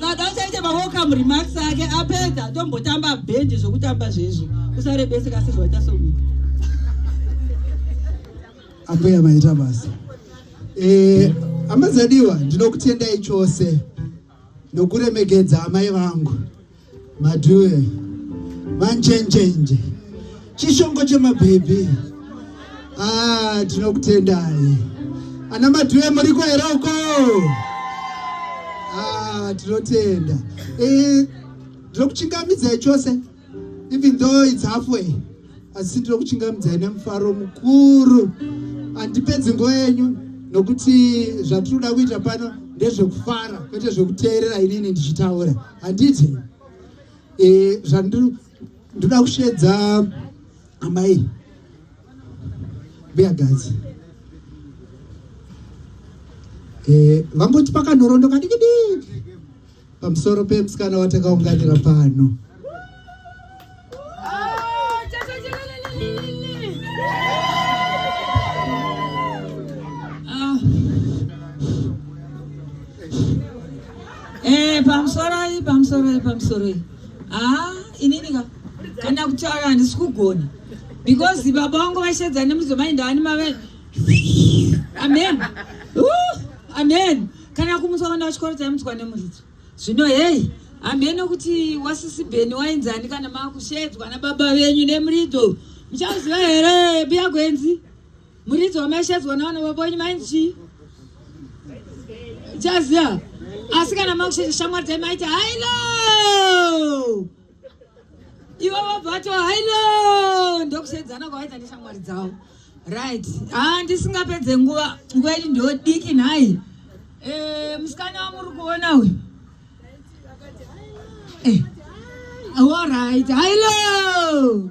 saka achaite mawelcome remarks ake apedza tombotamba bhendi zvokutamba zvezvo usarebeseka sezvaita somi ambuya maita basa eh, amazadiwa ndinokutendai chose nokuremekedza amai vangu madhuwe manjenjenje Chishongo chemabhebhi. Ah, tinokutendai. Ana madhuwe muriko here uko? Ah, tinotenda. Eh, ndinokuchingamidzai chose. Even though it's halfway. Asi ndinokuchingamidzai nemufaro mukuru. Andipedzi nguva yenyu nokuti zvatinoda kuita pano ndezvekufara kwete zvekuteerera inini ndichitaura. Handiti? Eh, zvandiri ndoda kushedza amai mbuyagadzi e, eh, vangoti pakanhorondo kadikidiki pamusoro pemusikana watakaunganira pano pamusoro pamusoro pamusoro haa inini ka kana kutaura handisi kugona because baba vangu vashedza nemudzimai ndaani mave amen uh, amen kana kumutswa vana vachikoro taimutswa nemuridzo zvino heyi hamheno kuti wasisi bheni wainzani kana maakushedzwa nababa venyu nemuridzo muchaziva here biyagwenzi Muridzi wamaishadzwa nawana vavonyi mainzi chaziva asi kana makushesha shamwari dzai maiti hailo ivo vabva vato hailo ndokusedzana kwavaita neshamwari dzavo right haa ndisingapedze nguva nguva yedu ndodiki nhai eh, musikana wamuri kuona uyu eh, allright hailo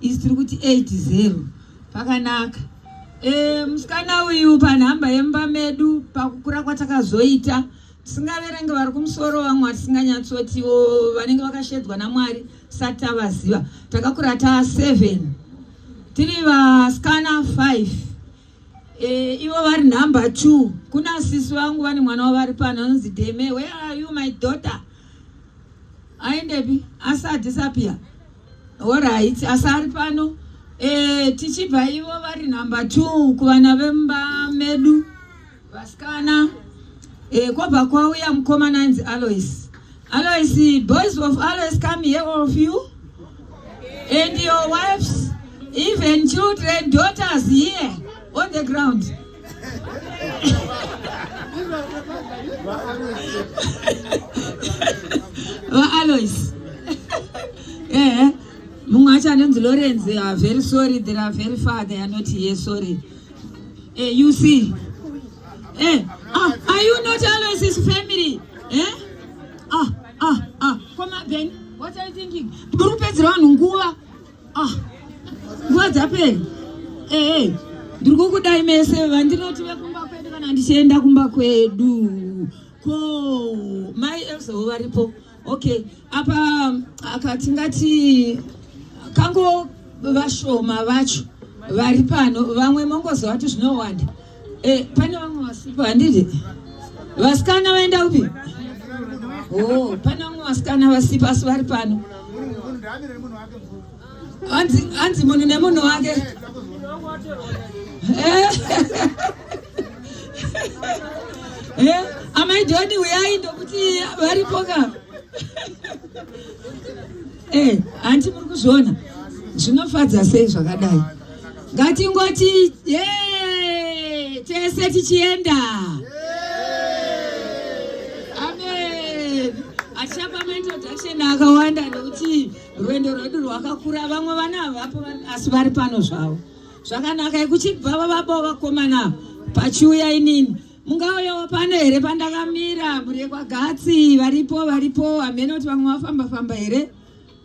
Isi tiri kuti 80 pakanaka. E, musikana uyu panhamba yemba medu pakukura kwatakazoita tisingaverenge vari kumusoro vamwe vatisinganyatsotiwo vanenge vakashedzwa naMwari sati tavaziva takakura ta 7 tiri vasikana 5 e, ivo vari number 2 kuna sisi vangu vane mwana wavari pano anonzi deme where are you my daughter aendepi asi adisappear Horaiti asi ari pano e, tichibva ivo vari number two kuvana vemba medu vasikana e, kwobva kwauya mukomana ainzi Alois Alois boys of Alois come here all of you and your wives even children daughters here on the ground vaalois ehe mumwe acho anonzi lorenzi are ah, very sorry there are very far they are not here sorry eh, you see eh, ah, are you not alois his family eh? ah, ah, ah. koma ben what are you thinking muri kupedzera vanhu nguva ah nguva dzapera ehe eh. ndiri kukudai mese vandinoti vekumba kwedu kana ndichienda kumba kwedu ko mai elzawo varipo okay apa akatingati kango vashoma vacho vari pano vamwe mongozovati zvinowanda Eh, pane vamwe vasipo handiti? Vasikana vaenda upi? Oh, pane vamwe vasikana vasipo asi vari pano. Hanzi hanzi munhu nemunhu wake. Eh. Eh, amai Doni uyai ndokuti varipo ka. Eh, hanti muri kuzviona zvinofadza sei zvakadai ngatingoti yee tese tichienda amen hatichapa maintroduction akawanda nekuti rwendo rwedu rwakakura vamwe vana havapo asi vari pano zvavo zvakanaka ikuchibva vavabao vakomana pachiuya inini Mungauyawo pano here pandakamira mhuri Gatsi varipo varipo hameno kuti vamwe vafamba famba here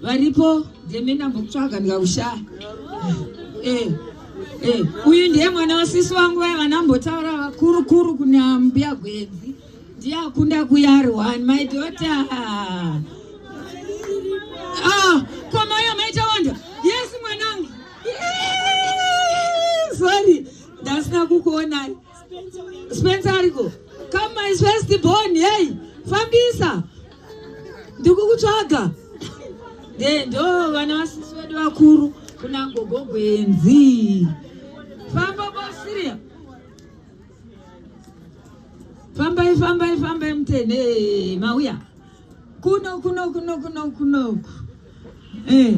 varipo ndeme ndambokutsvaga ndikakushaya eh, eh. uyu ndiye mwana wasisi wangu vaya vanambotaura vakuru kuru kuna mbuya gwenzi ndiye akunda kuyari one my daughter ah, komayo maita wanda yes mwanangu sorry ndasina kukuonai Spencer ariko come my first born hey fambisa ndikukutsvaga de ndo vana vasisi vedu vakuru kuna gogo gwenzi famba bosiria fambai fambai fambai mutene mauya kuno kuno kuno kuno kuno eh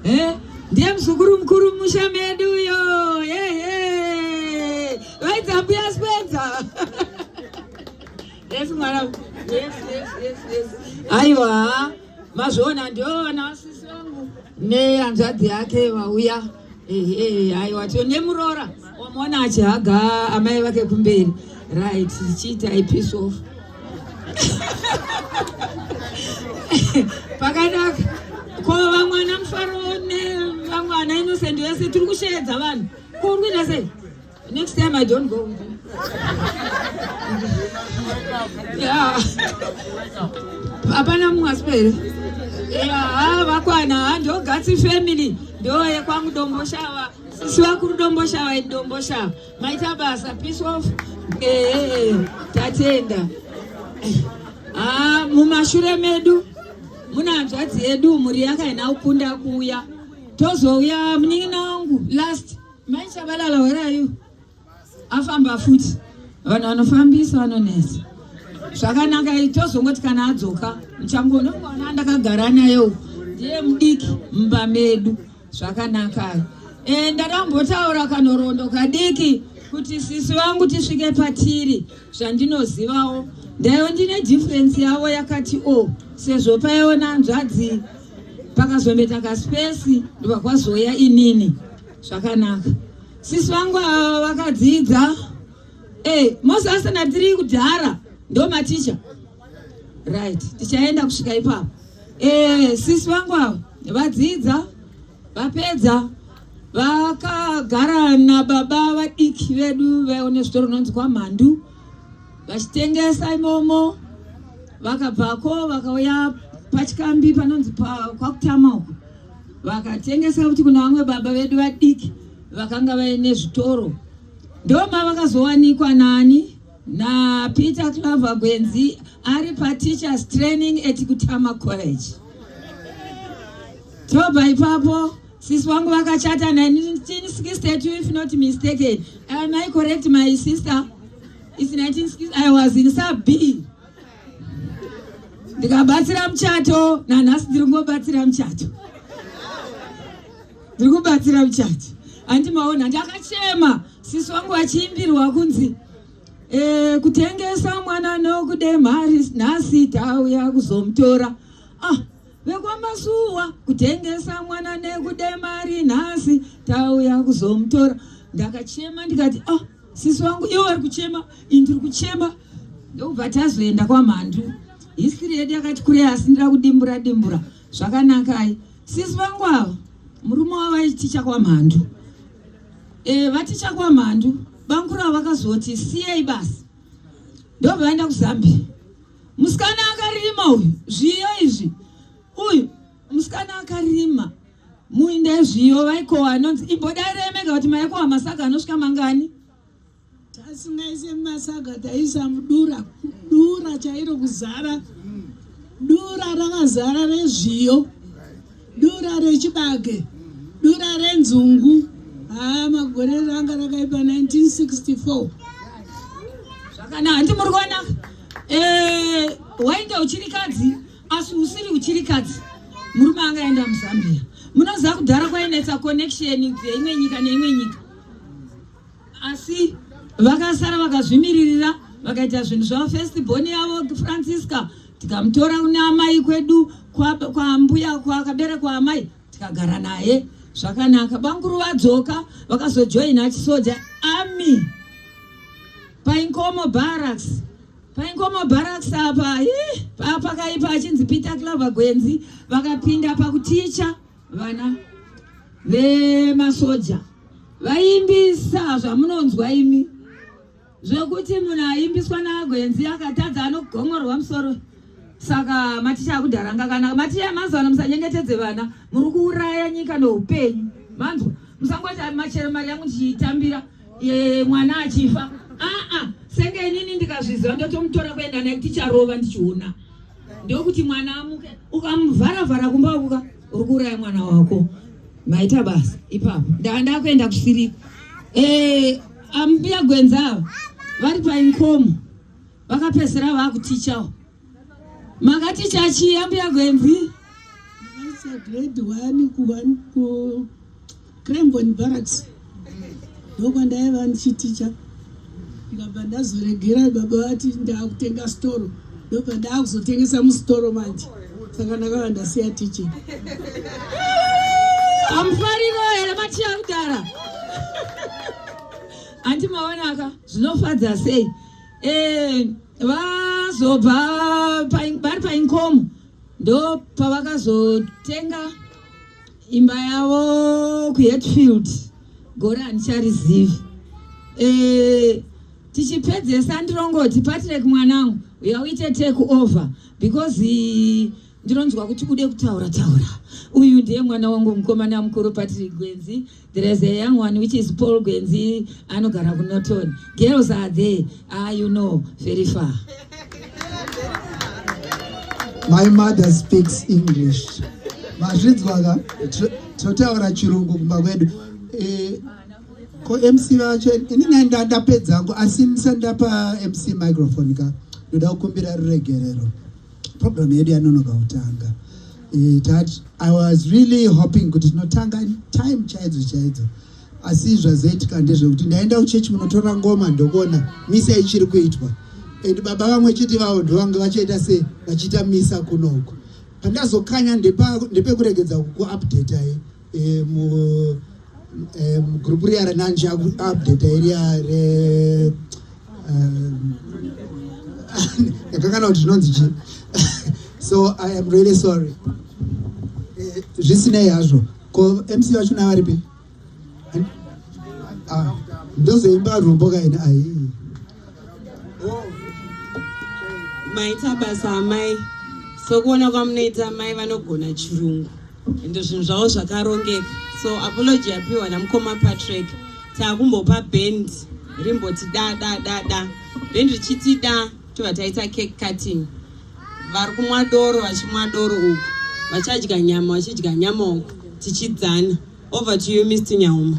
eh ndiye mzukuru mkuru musha medu uyo eh eh vaidza mbuya spenza yes mwana yes yes yes yes aiwa mazviona ndiona sisi wangu nehanzvadzi yake vauya aiwa to nemuroora wamona achihaga amai vake kumberi right chiita ipiece of pakanaka ko vamwana mufaro nevamwana innocent vese tiri kusheedza vanhu ko uri kuita sei Next time I don't go with you. yeah. Hapana munhu asipere. Yeah, vakwana ndogatsi family ndo yekwangu domboshava. Sisi vakuru domboshava idi domboshava. Maita basa peace off. Eh, eh, eh. tatenda. Ah, mumashure medu muna hanzvadzi yedu mhuri yakaina kukunda kuuya tozouya munin'ina wangu last Mai Chabalala, where are you? Afamba futi. Vanhu vanofambisa vanonetsa. Zvakanaka tozongoti kana adzoka muchangoona mwana ndakagara naye uko. Ndiye mudiki mumba medu. Zvakanaka. Eh ndakambotaura kanorondo kadiki kuti sisi vangu tisvike patiri zvandinozivawo. Ndayo ndine difference yavo yakati o oh, sezvo paiona nzvadzi pakazometa kaspesi ndobva kwazoya inini zvakanaka sisi vangu ava vakadzidza hey, eh, mose asina tiri kudhara ndo maticha right tichaenda kusvika ipapo hey, eh, sisi vangu ava vadzidza vapedza vakagara nababa vadiki vedu vaione zvitoro unonzi kwamhandu vachitengesa imomo vakabvako vakauya pachikambi panonzi kwakutama uko vakatengesa kuti kuna vamwe baba vedu vadiki vakanga vaine zvitoro ndoma vakazowanikwa nani napeter claver gwenzi ari pateachers training at kutama college tobva ipapo sisi wangu vakachata 1962 if not mistaken am i correct my sister It's 1960, I was in sub B. Ndikabatsira muchato, nanhasi ndiri kungobatsira muchato. Ndiri kubatsira muchato. Andi maona ndakachema sisi wangu vachiimbirwa kunzi eh, kutengesa mwana nokude mari nhasi tauya kuzomutora. Ah, vekwamasuwa kutengesa mwana nekude mari nhasi tauya kuzomutora. Ndakachema ndikati ah sisi wangu ivo vari kuchema ini ndiri kuchema ndokubva tazoenda kwamhandu hisiri yedu yakati kurei asi ndira kudimbura dimbura zvakanakai sisi vangu ava murume wavo aiticha kwamhandu e, vaticha kwamhandu banguru avo vakazoti siyei basi ndobva vaenda kuzambia musikana akarima uyu zviyo izvi uyu musikana akarima Muinde zviyo vaikowa anonzi ibhoda iremeka kuti maikowa masaga anosvika mangani? Tasingaise masaga taisa mudura, dura chairo kuzara. Dura rakazara rezviyo, dura rechibage, dura renzungu. Haa magore ranga rakaipa 1964. Zvakanaka, hanti muri kuona? Eh, wainge uchiri kadzi? asi usiri uchirikadzi murume anga aenda muzambia munoziva kudhara kwainetsa connection dzeimwe nyika neimwe nyika asi vakasara vakazvimiririra vakaita zvinhu zvavo first born yavo francisca tikamutora kune amai kwedu kwambuya kwakaberekwa amai tikagara naye zvakanaka banguru vadzoka vakazojoina chisoja army painkomo barracks Paingoma barracks apa ih, pakaipa achinzi Peter Clover Gwenzi vakapinda pakuticha vana vemasoja vaimbisa zvamunonzwa imi zvekuti munhu aimbiswa naGwenzi akatadza anogomorwa musoro saka maticha akudhara ngakana maticha mazuva ano musanyengetedze vana muri kuuraya nyika neupenyu manzwa musangoti machero mari yangu ndichiitambira Ye, mwana achifa aa senge inini ndikazviziva ndotomutora kuenda naye ticharova ndichiona ndokuti mwana amuke ukamuvhara vhara kumba uka uri kuuraya mwana wako maita basa ipapo ndava ndakuenda kusiriko eh, ambuya gwenza ava vari painkomo vakapesera vakutichawo Makati chachi yambuya Gwenzi? Ndakaisa grade 1 ku 1 ku Cranbourne Barracks. Ndokwa ndaiva ndichiticha. Ndikabva ndazoregera baba vati ndakutenga storo. Ndobva ndakuzotengesa mustoro manje. Saka ndakava ndasiya teaching. Amufariro here matiya kudara? Anti maonaka zvinofadza sei? Eh, vazobva vari painkomo ndo pavakazotenga imba yavo kuhetfield gore handicharizivi eh, tichipedzesa ndirongoti patrek mwanangu uya uite take over because ndinonzwa kuti ude kutaura taura uyu ndiye mwana wangu mukomana mukuru patrek gwenzi There is a young one which is Paul Gwenzi anogara kuNorton. Girls are there. Ah, you know, very far. My mother speaks English. Mazvidzwa ka totaura chirungu kumba kwedu. Eh, ko MC vacho inini ndapedza hangu asi ndisandapa MC microphone ka. Ndoda kukumbira ruregerero. program yedu yanonoka kutanga eh, that i was really hoping kuti tinotanga time chaidzo chaidzo asi zvazoitika ndezvekuti ndaenda kuchechi munotora ngoma ndokuona misa ichiri kuitwa and baba vamwe chete vavo ndovange vachaita se vachiita misa kunoku pandazokanya ndepekuregedza kukuupdata ye E, mu, e, group riya renanji akuupdate iriya re yakangana kuti zvinonzi chi so i am really sorry e, zvisinei hazvo ko mc vacho na varipi ndozoimba rwumbo kaini aii maita basa amai sokuona kwamunoita amai vanogona chirungu ende zvinhu zvavo zvakarongeka so apology yapiwa namukoma patrick takumbopa band rimboti da da da da band richiti da tova taita cake cutting vari kumwa doro vachimwa doro uku vachadya nyama vachidya nyama uku tichidzana Over to you Mr Nyauma.